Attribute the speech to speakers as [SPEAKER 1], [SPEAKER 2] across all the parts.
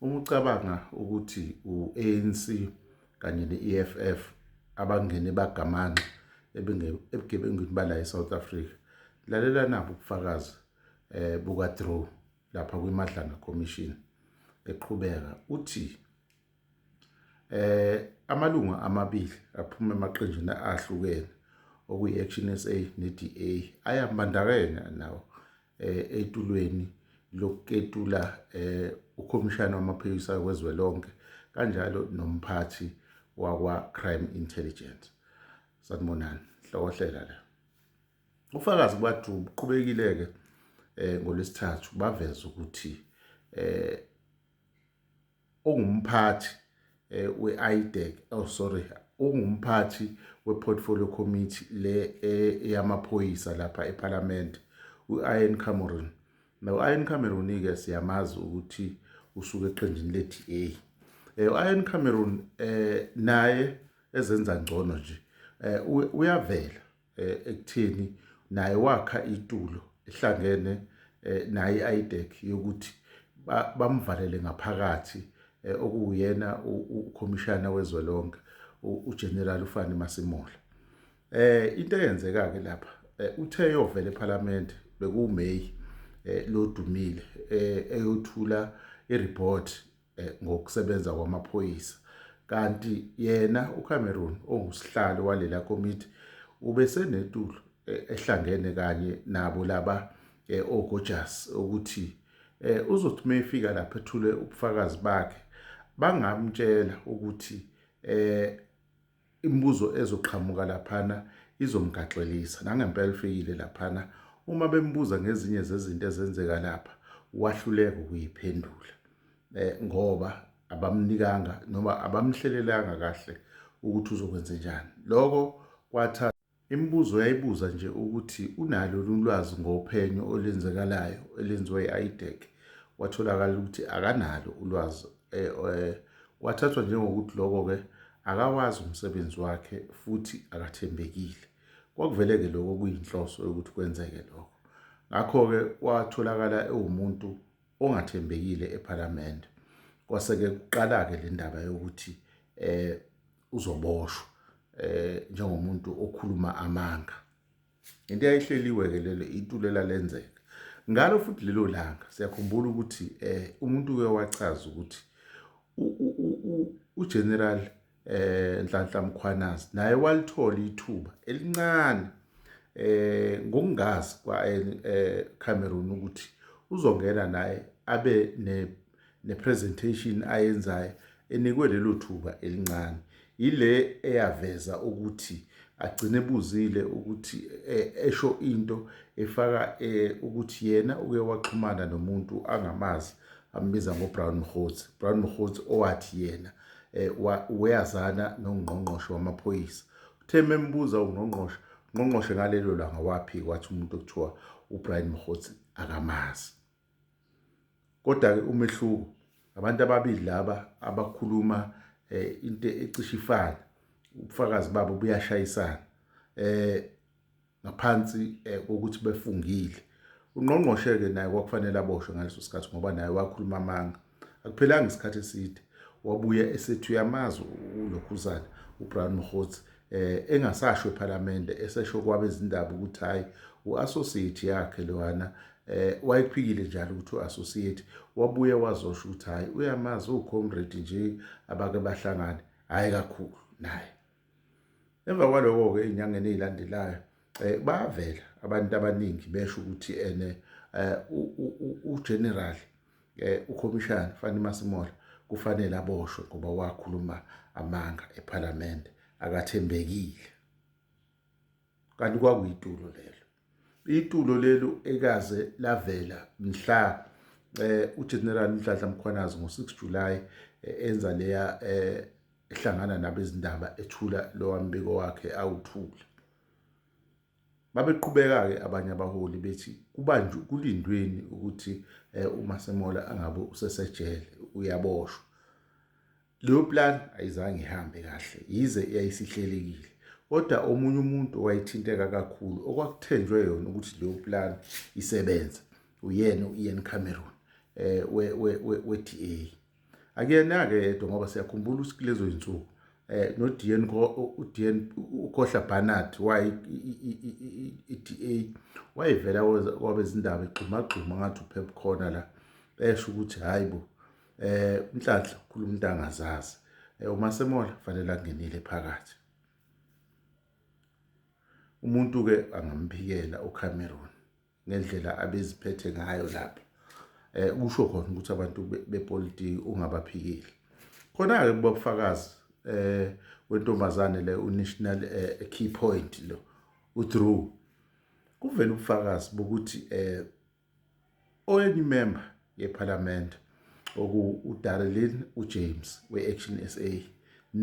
[SPEAKER 1] Uma ucabanga ukuthi u-ANC kanye ne-EFF abangene bagamanxa ebugebengwini bala e-South Africa, lalela nabo ubufakazi eh buka Drew lapha kwiMadlanga Commission eqhubeka uthi eh amalungu amabili aphuma emaqenjini ahlukene okuyi-Action SA ne-DA ayambandakanya nawo eh, etulweni lokuketula eh, ukhomishana wamaphoyisa wezwe lonke kanjalo nomphathi wakwa-crime intelligence sanibonani hlokohlela la ufakazi kwathu buqhubekile-ke um ngolwesithathu baveza ukuthi um ongumphathi eh, we-IDEC oh sorry ungumphathi we-portfolio committee le eh, eyamaphoyisa lapha ephalamende u-ian cameron now u-ian cameron-ke siyamazi ukuthi usuke eqenjini le-d a um eh, u-ian cameron um naye ezenza ngcono nje um uyavela eh, ekutheni naye wakha itulo ehlangene eh, naye i-IDEC yokuthi bamvalele ngaphakathi eh, okuwuyena ukhomishana wezwe lonke uGeneral uFani Masemola eh into eyenzeka ke lapha eh, uthe yovela eParliament bekuMay eh, lodumile eh, eyothula ireport eh, ngokusebenza kwamaphoyisa kanti yena uCameron ongusihlalo walela komiti ubesenetulo eh, ehlangene kanye nabo laba eh, oGojas ukuthi uzothi uma efika lapha ethule ubufakazi bakhe bangamtshela ukuthi Imibuzo ezoqhamuka laphana izomgaxelisa. Nangempela ufikile laphana, uma bembuza ngezinye zezinto ezenzeka lapha, wahluleka ukuyiphendula eh, ngoba abamnikanga noma abamhlelelanga kahle ukuthi uzokwenze njani. Lokho kwathatha Imibuzo yayibuza nje ukuthi unalo yini ulwazi ngophenyo olenzekalayo elenziwa i-IDEC, kwatholakala ukuthi akanalo ulwazi eh, eh, kwathathwa njengokuthi lokho-ke akawazi umsebenzi wakhe futhi akathembekile. Kwakuvele-ke lokho kuyinhloso yokuthi kwenzeke lokho. Ngakho-ke watholakala ewumuntu ongathembekile ePhalamende. Kwase-ke kuqala-ke le ndaba yokuthi um uzoboshwa eh njengomuntu okhuluma amanga into eyayihleliwe ke lelo itulela lenzeka ngalo futhi lelo langa siyakhumbula ukuthi eh umuntu uye wachaza ukuthi uGeneral eh Nhlanhla Mkhwanazi naye walithola ithuba elincane eh ngokungazi kwa eh, eh Cameroon ukuthi uzongena naye abe ne nepresentation ayenzayo enikwe lelo thuba elincane yile eyaveza ukuthi agcine ebuzile ukuthi e, esho into efaka e, ukuthi yena uke waxhumana nomuntu angamazi ambiza ngobrown mhotsi brown mhotsi owathi yena e, weyazana nongqongqoshe wamaphoyisa uthe membuza ungqongqoshe ungqongqoshe ngalelo langa waphika wathi umuntu okuthiwa ubrian mhotsi akamazi Kodwa-ke umehluko abantu ababili laba abakhuluma eh, into ecishe ifane ubufakazi babo buyashayisana eh ngaphansi eh, kokuthi befungile ungqongqoshe-ke naye kwakufanele aboshwe ngaleso sikhathi ngoba naye wakhuluma amanga Akuphelanga isikhathi eside wabuya esethi uyamazi ulokhuzana uBrown Mkhotsi eh engasasho ePhalamende esesho kwabezindaba ukuthi hayi uassociate yakhe lowana eh wayephikile njalo ukuthi uassociate wabuye wazosho ukuthi hayi uyamazi ucomrade nje abake bahlangane hayi kakhulu naye Emva kwaloko-ke ey'nyangeni ey'landelayo um bavela abantu abaningi besho ukuthi ene um ugeneral um ukhomishana Fani Masemola kufanele aboshwe ngoba wakhuluma amanga ephalamende akathembekile kanti kwakuyitulo lelo Itulo lelu ekaze lavela mhla eh uGeneral Nhlanhla Mkhwanazi ngo-6 July eh, enza leya eh ehlangana nabezindaba ethula lowa mbiko wakhe awuthula. Babeqhubeka-ke abanye abaholi bethi kubanjwe kulindweni ukuthi eh, uMasemola angabe usesejele uyaboshwa. Leyo plan ayizange ihambe kahle yize yayisihlelekile kodwa omunye umuntu owayethinteka kakhulu okwakuthenjwe yona ukuthi leyo plan isebenze uyena u-Ian Cameron eh we-DA akuyena-ke yedwa ngoba siyakhumbula ukuthi kulezo zinsuku eh noDian uDian uKhohla Barnard waye iDA wayevela kwabezindaba egxumagxuma ngathi uphepha khona la esho ukuthi hayibo eh unhlanhla ukhuluma into angazazi eh, uma semola fanele angenile phakathi umuntu ke angamphikela uCameron ngendlela abeziphethe ngayo lapha eh kusho khona ukuthi abantu bepolitiki ungabaphikile khona ke kubafakazi eh wentombazane le unational eh, key point lo uDrew kuvela ubufakazi bokuthi eh Oyimemba yePhalamende okuwu-Darilyn uJames we-Action sa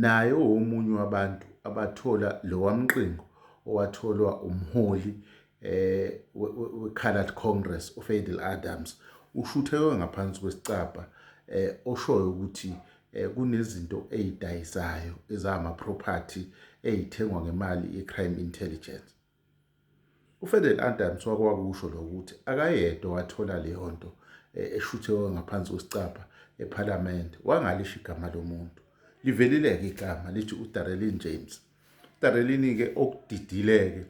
[SPEAKER 1] naye owomunye wabantu abathola lowamqingo owatholwa umholi we-Coloured Congress uFadil Adams ushuthekwe ngaphansi kwesicabha oshoyo ukuthi kunezinto eyidayisayo ezama-property eyithengwa ngemali ye-Crime Intelligence. UFadel Adams wake wakusho lokho ukuthi akayedwa wathola leyo nto eh, eshuthewe ngaphansi kwesicabha ephalamende wangalisho igama lomuntu livelile-ke igama lithi udarelin james udarelini-ke okudidileke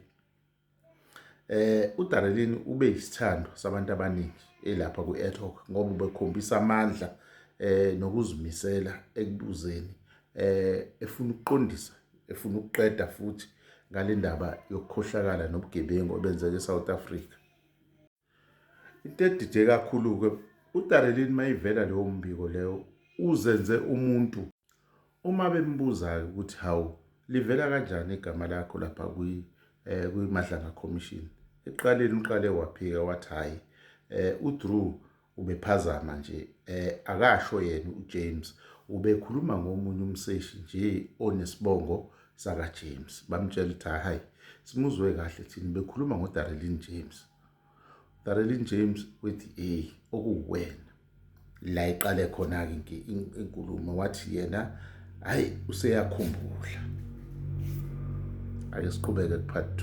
[SPEAKER 1] eh udarelini ube yisithando sabantu abaningi elapha kwi-etoc ngoba ubekhombisa amandla eh nokuzimisela ekubuzeni eh efuna ukuqondisa efuna ukuqeda futhi ngale ndaba yokukhohlakala nobugebengu obenzeka eSouth Africa. Into edide kakhulu-ke uDarelin mayivela leyo mbiko leyo uzenze umuntu uma bembuza-ke ukuthi hawu livela kanjani igama lakho lapha eh, kwiMadlanga Commission ekuqaleni uqale waphika wathi hhayi um udrew Ubephazama nje eh akasho yena uJames ubekhuluma ngomunye umseshi nje onesibongo saka James bamtshela ukuthi hayi simuzwe kahle thina bekhuluma ngo Darelin James Darelin James with a okuwena la iqale khona ke inkulumo wathi yena hayi useyakhumbula ake siqhubeke kuphathi